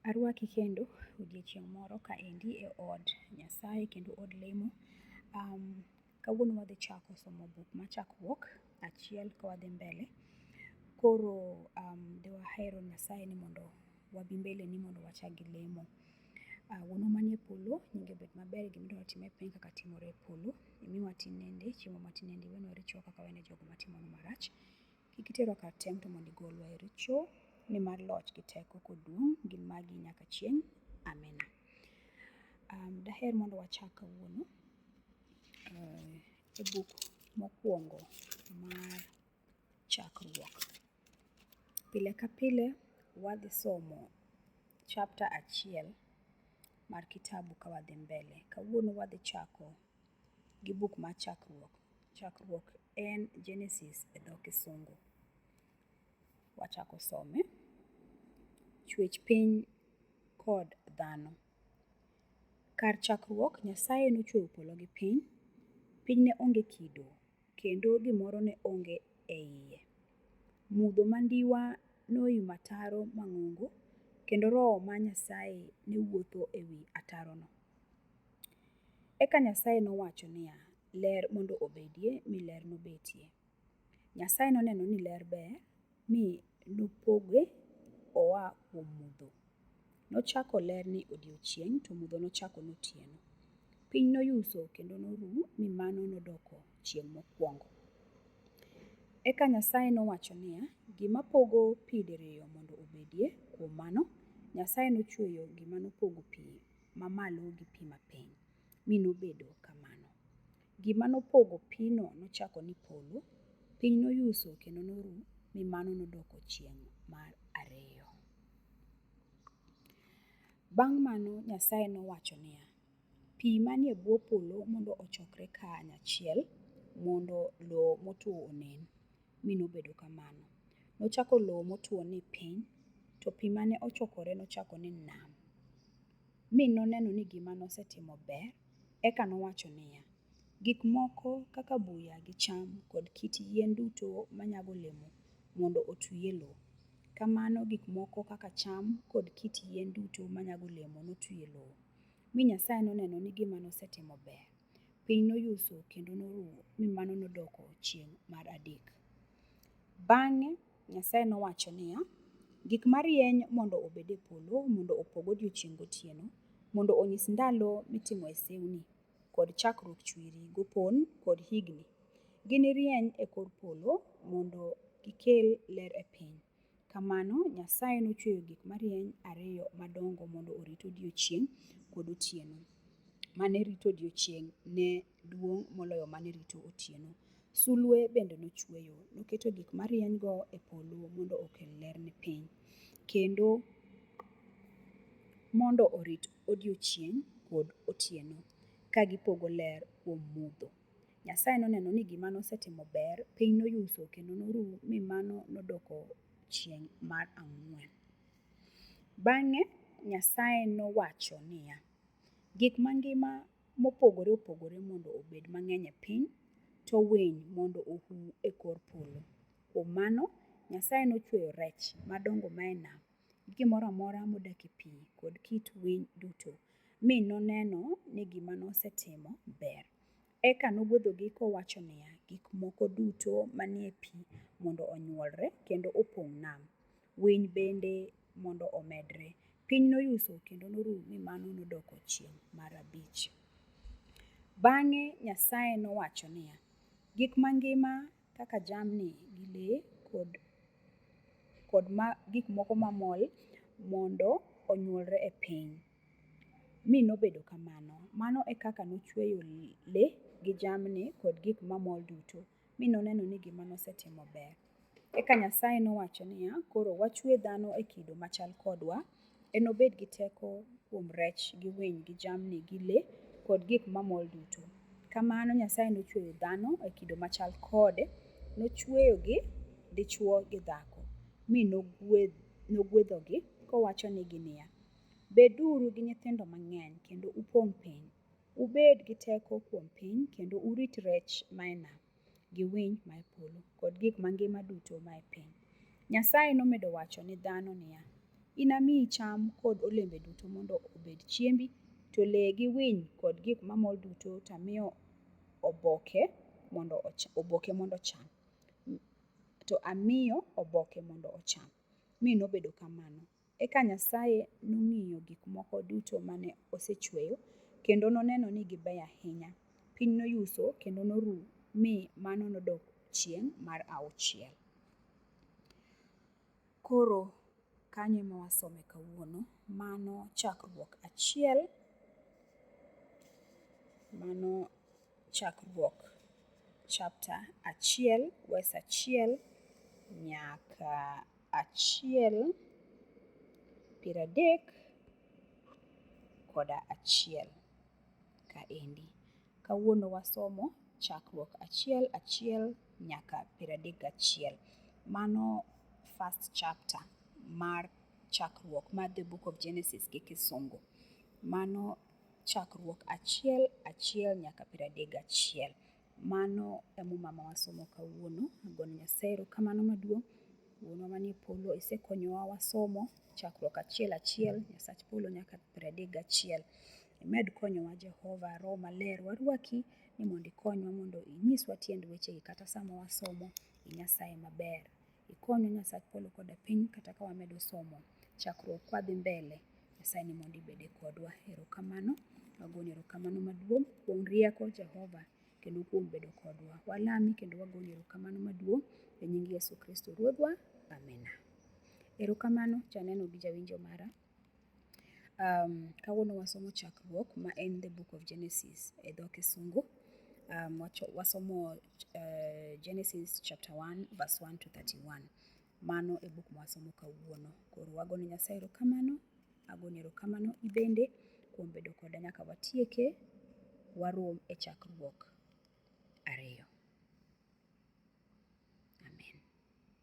Arwaki kendo odiechieng' moro ka endi e od Nyasaye kendo od lemo. Um, kawuono wadhi chako somo buk ma chakruok achiel ka wadhi mbele. Koro um, diwahero Nyasaye ni mondo wabi mbele ni mondo wachak gi lemo. Uh, wuonwa manie polo nyinge obed maber gima idwaro time e piny kaka timore e polo imiwa tinende chiemo matinende iwenwa richowa kaka wene jogo matimonu marach kik iterwa kar tem to mondo igolwa e richo nimar loch gi teko kod duong' gin magi nyaka chieng' amena um, daher mondo wachak kawuono uh, e buk mokwongo mar chakruok Pile ka pile wadhi somo chapter achiel mar kitabu ka wadhi mbele. Kawuono wadhi chako gi buk mar Chakruok. Chakruok en Genesis e dho Kisungu. Wachako some. Chwech piny kod dhano. Kar chakruok, Nyasaye nochweyo polo gi piny. Piny ne onge kido kendo gimoro ne onge e iye. Mudho mandiwa noyumo ataro mang'ongo kendo Roho ma Nyasaye ne wuotho e wi atarono. Eka Nyasaye nowacho niya, Ler mondo obedie, mi ler nobetie. Nyasaye noneno ni ler ber, mi nopoge oa kuom mudho. Nochako ler ni odiechieng' to mudho nochako notieno. Piny noyuso kendo noru mi mano nodoko chieng' mokwongo. Eka Nyasaye nowacho niya, Gima pogo pi diriyo mondo obedie. Kuom mano, Nyasaye nochweyo gima nopogo pi mamalo gi pi mapiny, mi nobedo kamano. Gima nopogo pino nochako ni polo, piny noyuso kendo noru, mi mano nodoko chieng' mar ariyo. Bang' mano Nyasaye nowacho niya, Pi manie bwo polo mondo ochokre kanyachiel mondo lowo motwo onen. Mi nobedo kamano. Nochako lowo motwo ni piny, to pi mane ochokore nochako ni nam. mi noneno ni gima nosetimo ber, eka nowacho niya, Gik moko kaka buya gi cham kod kit yien duto manyago olemo mondo otwi e lowo. Kamano gik moko kaka cham kod kit yien duto manyago olemo notwi e lowo, mi Nyasaye noneno ni gima nosetimo ber. Piny noyuso kendo norumo, mi mano nodoko chieng' mar adek. Bang'e Nyasaye nowacho niya, Gik marieny mondo obed e polo mondo opog odiechieng' gotieno, mondo onyis ndalo mitimoe sewni, kod chakruok chwiri gopon kod higni. Ginirieny e kor polo mondo gikel ler e piny. Kamano Nyasaye nochweyo gik marieny ariyo madongo mondo orit odiechieng' kod otieno. Mane rito odiechieng' ne duong' moloyo mane rito otieno. Sulwe bende nochweyo, noketo gik marieny-go e polo mondo okel ler ne piny, kendo mondo orit odiechieng' kod otieno, ka gipogo ler kuom mudho. Nyasaye noneno ni gima nosetimo ber, piny noyuso kendo noru mi mano nodoko chieng' mar ang'wen. Bang'e Nyasaye nowacho niya, Gik mangima mopogore opogore mondo obed mang'eny e piny, to winy mondo ohu e kor polo. Kuom mano, Nyasaye nochweyo rech madongo mae nam, gi gimoro amora modak e pi kod kit winy duto, mi noneno ni gima nosetimo ber. Eka nogwedhogi kowacho niya, Gik moko duto manie pi mondo onyuolre kendo opong' nam. winy bende mondo omedre. Piny noyuso kendo noru mi mano nodoko chieng' mar abich. Bang'e Nyasaye nowacho niya, Gik mangima kaka jamni gi le kod, kod ma, gik moko mamol mondo onyuolre e piny. Mi nobedo kamano. Mano e kaka nochweyo le gi jamni kod gik mamol duto. mi noneno ni gima nosetimo ber. Eka Nyasaye nowacho niya, Koro wachue dhano e kido machal kodwa. Enobed gi teko kuom rech gi winy gi jamni gi le kod gik mamol duto. Kamano Nyasaye nochueyo dhano e kido machal kode, nochueyogi dichwo gi dhako, mi nogwedhogi kowachonigi niya, Beduru gi nyithindo mang'eny kendo upong' piny, Ubed gi teko kuom piny kendo urit rech mae nam, gi winy mae polo, kod gik mangima duto mae piny. Nyasaye nomedo wacho ni dhano niya, Inamiyi cham kod olembe duto mondo obed chiembi, to le gi winy kod gik mamol duto to amiyo oboke mondo oboke mondo ocham. To amiyo oboke mondo ocham. Mi nobedo kamano. Eka Nyasaye nong'iyo gik moko duto mane osechueyo, kendo noneno ni gibeyo ahinya. Piny noyuso kendo noru mi mano nodok chieng' mar auchiel. Koro kanyo ema wasome kawuono, mano chakruok achiel, mano chakruok chapter achiel verse achiel nyaka achiel piero adek kod achiel kaendi. Kawuono wasomo chakruok achiel achiel nyaka piero adek gachiel. Mano first chapter mar chakruok mar the book of Genesis gi kisungu. Mano chakruok achiel achiel nyaka piero adek gachiel. Mano e muma ma wasomo kawuono. Ago ne Nyasaye erokamano maduong'. Wuonwa manie polo, isekonyowa wasomo chakruok achiel achiel, Nyasach polo nyaka piero adek gachiel. Imed konyowa Jehova, Roho Maler warwaki ni mondo ikonywa mondo inyiswa tiend wechegi kata sama wasomo. In Nyasaye maber. Ikonyo Nyasach polo koda piny kata ka wamedo somo chakruok kwadhi mbele. Nyasaye ni mondo ibede kodwa. Erokamano. Wagoni erokamano maduong' kuom rieko Jehova kendo kuom bedo kodwa. Walami kendo wagoni erokamano maduong' e nying Yesu Kristo Ruodhwa. Amina. Erokamano janeno gi jawinjo mara. Kawuono wasomo chakruok ma en the book of Genesis e dho kisungu. Wasomo Genesis chapter one verse one to thirty one. Mano e buk mwasomo kawuono. Koro wago ne Nyasaye erokamano, ago ni erokamano in bende kuom bedo koda nyaka watieke. Warom e chakruok ariyo. Amen.